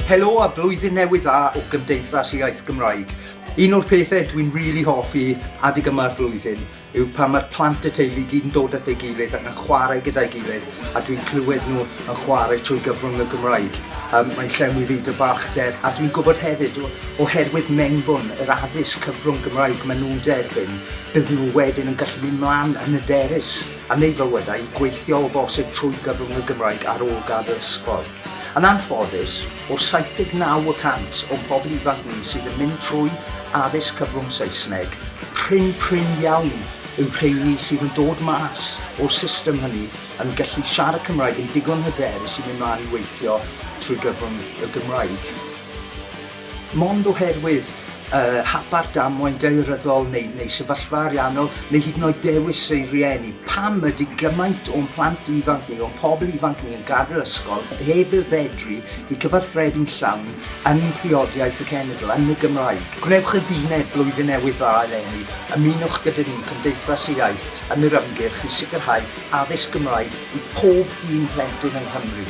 Helo a blwyddyn newydd dda o Gymdeithas Iaith Gymraeg. Un o'r pethau dwi'n rili really hoffi adeg yma'r flwyddyn yw pan mae'r plant y teulu gyd yn dod at ei gilydd ac yn chwarae gyda'i gilydd a dwi'n clywed nhw yn chwarae trwy gyfrwng y Gymraeg. Um, mae'n llenwi fi dy balchder a dwi'n gwybod hefyd oherwydd mewnbwn yr addysg cyfrwng Gymraeg maen nhw'n derbyn, bydd nhw wedyn yn gallu mynd mlaen yn y derys. yn ei fywyd a'i gweithio o bosib trwy gyfrwng y Gymraeg ar ôl gadael ysgol. Yn anffodus, o'r 79 y cant o'n pobl ifanc ni sydd yn mynd trwy addysg cyfrwng Saesneg, prin prin iawn yw rheini sydd yn dod mas o'r system hynny yn gallu siarad Cymraeg yn digon hyderus i mynd mlaen i weithio trwy gyfrwng y Gymraeg. Mond oherwydd y hapar damwain daearyddol neu, neu sefyllfa ariannol neu hyd yn oed dewis ei rieni. Pam ydy gymaint o'n plant ifanc ni, o'n pobl ifanc ni yn gadael ysgol heb y fedru i cyfarthrebu'n llawn yn priodiaeth y cenedl, yn y Gymraeg? Gwnewch y ddiwineb Blwyddyn Newydd Dda eleni, ymunwch gyda ni, Cymdeithas y Iaith, yn yr ymgyrch i sicrhau addysg Gymraeg i pob un plentyn yng Nghymru.